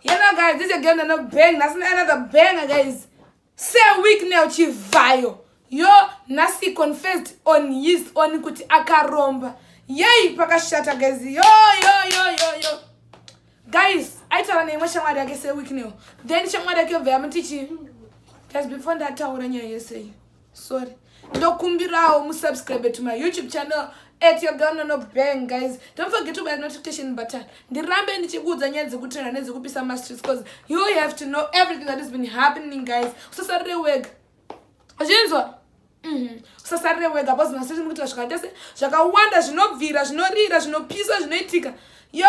Yena guys, this again another bang. That's another banger, guys. Say week now, chivayo. Yo, nasi confessed on his own kuti akaromba. Yay, pakashata guys. Yo, yo, yo, yo, yo. Guys, aitaura neimwe shamwari yake say week now. Then shamwari yake yobva yamuti chii? Guys, before ndataura nyaya yese iyi. sorry ndokumbirawo musubscribe to my youtube channel at your girl nono bang guys don't forget to buy notification button ndirambe ndichikuudza nyaya dzekutrena nedzekupisa mastreets because you have to know everything that has been happening guys usasarire wega zvinzwa mhm. usasarire wega bcause mastreets mukuitira zvakaita se zvakawanda zvinobvira zvinorira zvinopisa zvinoitika yo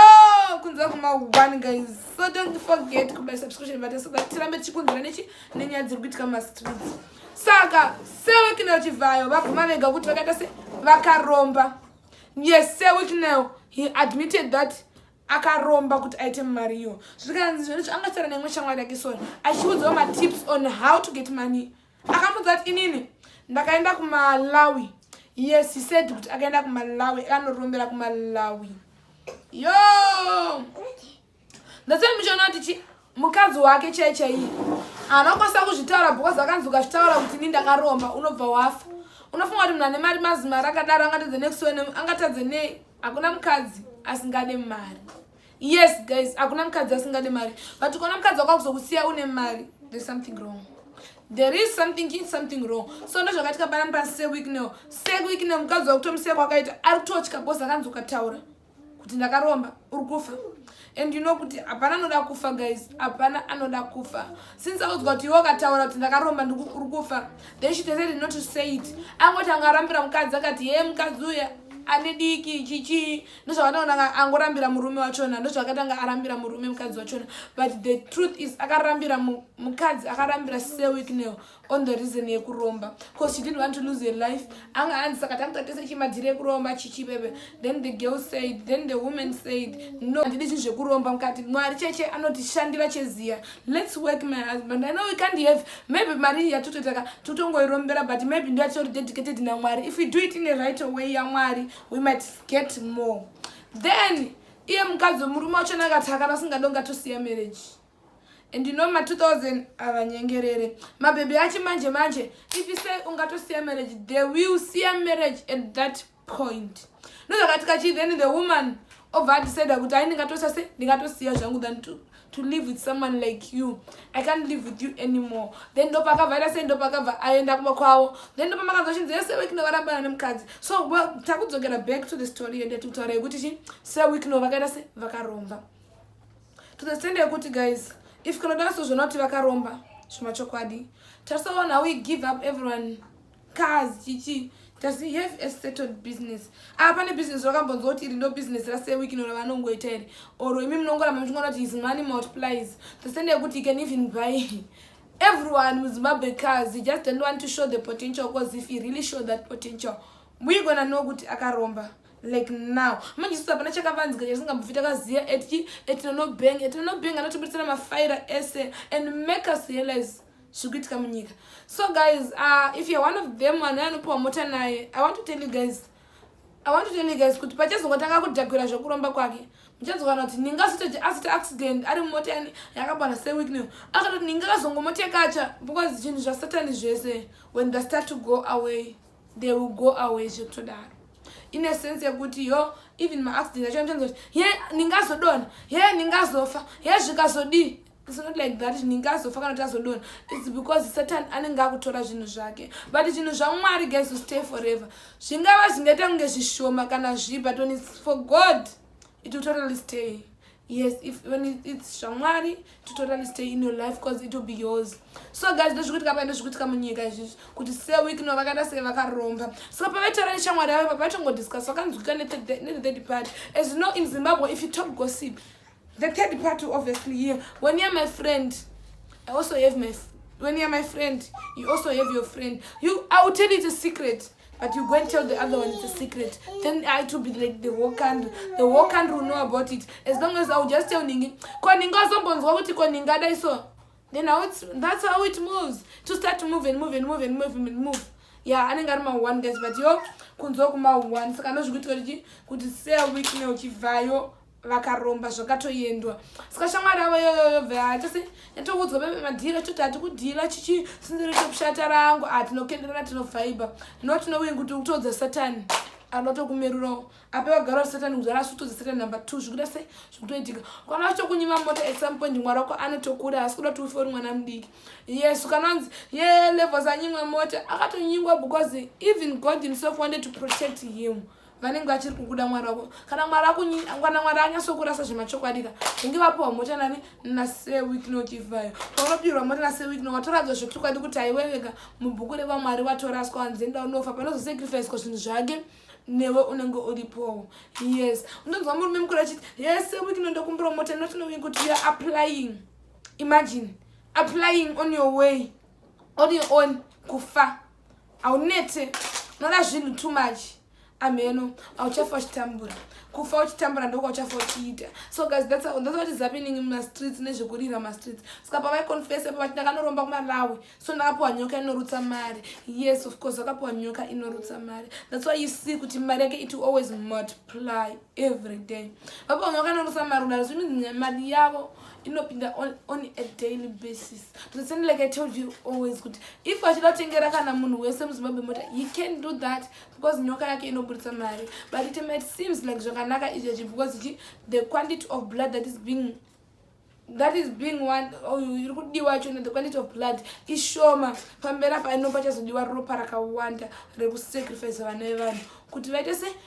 kunzira kuma one guys so don't forget kubuy subscription button so that tirambe tichikunzira nechi nenyaya dziri kuitika mastreets saka sewicknel chivhayo vabvuma vega kuti vakaita se vakaromba yes sewicknel he admitted that akaromba kuti aite mari iyo zvikanzi zvinhu zvaangasara neimwe shamwari yake sona achiudzawo matips on how to get money akamudza kuti inini ndakaenda kumalawi yes he said kuti akaenda kumalawi akanorombera kumalawi yo That's why muchaona kuti chi mukadzi wake chai chaiye anokwanisa kuzvitaura because akanzi ukazvitaura kuti ni ndakaromba unobva wafa unofunga kuti munhu ane mari mazimari akadaro angatadze next one angatadze nei hakuna mukadzi asingade mari yes guys hakuna mukadzi asingade mari but ukaona mukadzi wakakuzokusiya une mari there's something wrong there is something in something wrong so ndo zvakaitika panani pasi seweek neo seweek neo mukadzi wakutomusiya kwakaita ari kutotya bos akanzi ukataura kuti ndakaromba uri kufa and you know kuti hapana anoda kufa guys hapana anoda kufa since audzwa kuti iwe ukataura kuti ndakaromba uri kufa then she decided not to say it angoti anga arambira mukadzi akati hee mukadzi uya ane diki chichii ndozvakataona angorambira murume wachona ndozvakatanga arambira murume mukadzi wachona but the truth is akarambira mukadzi akarambira sewicknel on the reason yekuromba because she didn't want to lose her life anga anzi saka takutatese chimadhiri ekuromba chichibebe then the girl said then the woman said no handidi zvinhu zvekuromba mukati mwari cheche anotishandira cheziya let's work my husband i know we can't have maybe mari yatototaka totongoirombera but maybe ndo yatitori dedicated namwari if we do it in a right way yamwari we might get more then iye mukadzi wemurume wacho nakati akana singadonga tosiya marriage and you know ma 2000 avanyengerere mabhebhi achi manje manje if you say ungatosiya marriage they will siya marriage at that point ndozvakatika chii then the woman obva adecida kuti ai ndingatosa se ndingatosiya zvangu than to, to live with someone like you i can't live with you anymore then ndopakabva aita sei ndopakabva aenda kuma kwavo then ndopamakanzwa chinzi yese wekno varambana nemukadzi so takudzokera back to the story yende tikutaura yekuti chi se wekno vakaita se vakaromba to the stand yekuti guys if kana dara sozvona kuti vakaromba zvemachokwadi tarisaona how we give up everyone cars chichi does he have a settled business ah pane business rakambonzwa kuti iri ndo business rasewiki ino ravanongoita iri or imi munongoramba muchingoona kuti his money multiplies the stand yekuti he can even buy everyone muzimbabwe cars he just don't want to show the potential because if he really show that potential we gonna know kuti akaromba like now manje isusu hapana chakavanzika chatisingambobvi takaziva eti etinonobeng etinonobeng anotibuditsira mafaira ese and make us realize zviri kuitika munyika so guys uh, if youare one of them vanhu anopiwa mota naye i want to tell you guys i want to tell you guys kuti pachazongotanga kudhagwira zvekuromba kwake muchazokana kuti ninga asitoje asita accident ari mumota yani yakabana seweek new akatoti ninga kazongomotekacha because zvinhu zvasatani zvese when they start to go away they will go away zvekutodaro ine sense yekuti yo even maaccident acho anotanza kuti ye ndingazodona ye ndingazofa ye zvikazodii it's not like that ndingazofa kana kuti azodona its because satan anenge akutora zvinhu zvake but zvinhu zvamwari guys to stay forever zvingava zvingaita kunge zvishoma kana zvipa toni for god it will totally stay yes if when its shamwari to totally stay in your life because it will be yours so guys ndozvikuitika paenda zvikuitika munyika izvizvi kuti seweek no vakaita sei vakaromba saka pavaitaura neshamwari yavo pavatongodiscuss vakanzwika nethird party as you know in zimbabwe if you talk gossip the third party obviously here when you're my friend i also have my when you're my friend you also have your friend you i will tell you the secret But you go and tell the other one it's a secret. Then I to be like the whole country. The whole country will know about it. As long as I will just tell Ningi, ko Ninga azombonzwa kuti ko Ninga dai so. Then how it's, that's how it moves. To start to move and move and move and move and move. Yeah, anenge ari maone guys but yo kunzwa kumaone saka ndozvikuitwa kuti kuti sea week ne uchibvayo vakaromba zvakatoendwa saka shamwari avo yoyoyobve hatisi yatoudzwa bebe madhira choti hati kudhira chichi sinziro chekushata rangu hatinokenderana ah, tinovhaiba no tinowin kuti kutodza satani anotokumerurawo ape vagara wa satani kuzara asi kutodza satani number two zvikuita se zvikutoitika kwana vachitokunyima mota at some point mwari wako anotokura asi kuda kuti ufe uri mwana mudiki yesu kana anzi ye levels anyimwa mota akatonyingwa because even god himself wanted to protect him vanenge vachiri kukuda mwari wako kana mwari akunyana mwari anyasokurasa zvemachokwadi ka inge vapiwa mota nani naseweeknochivayo paunopirwa mota naseweekno watoradzwa zvekuchokwadi kuti haiweveka mubhuku revamwari watoraswa wanzenda unofa panozosacrificwa zvinhu zvake newe unenge uripowo yes unonzwa murume mukuru achiti yese weekno ndokumbira mota notinowii kuti youare applying imagine applying on your way on your own kufa haunete unoda zvinhu too much amheno hauchafa uchitambura kufa uchitambura ndokwauchafa uchiita so guys that's how that's what is happening in my streets nezvekurira ma streets saka pavai confess pa vati ndakanoromba kumalawi so ndakapuwa nyoka inorutsa mari yes of course akapuwa nyoka inorutsa mari that's why you see kuti mari yake it always multiply every day vapuwa nyoka inorutsa mari kudaro zvimii mari yavo inopinda on, on a daily basis But then like I told you always kuti if achida kutengera kana munhu wese muZimbabwe mota he can do that because nyoka yake inoburitsa mari but it might seems like zvakanaka izvi zvi because chi the quantity of blood that is being that is being one oh, iri kudiwa chona the quantity of blood ishoma pamberi apa ino pachazodiwa ropa rakawanda rekusacrifice vana vevanhu kuti vaite se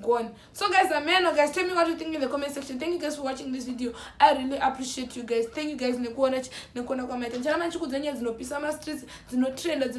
gone so guys ameno guys tell me what you think in the comment section thank you guys for watching this video i really appreciate you guys thank you guys nekuona nekuona kwamaita ndichana machikudza nyaya dzinopisa mastreets dzinotrenda dzino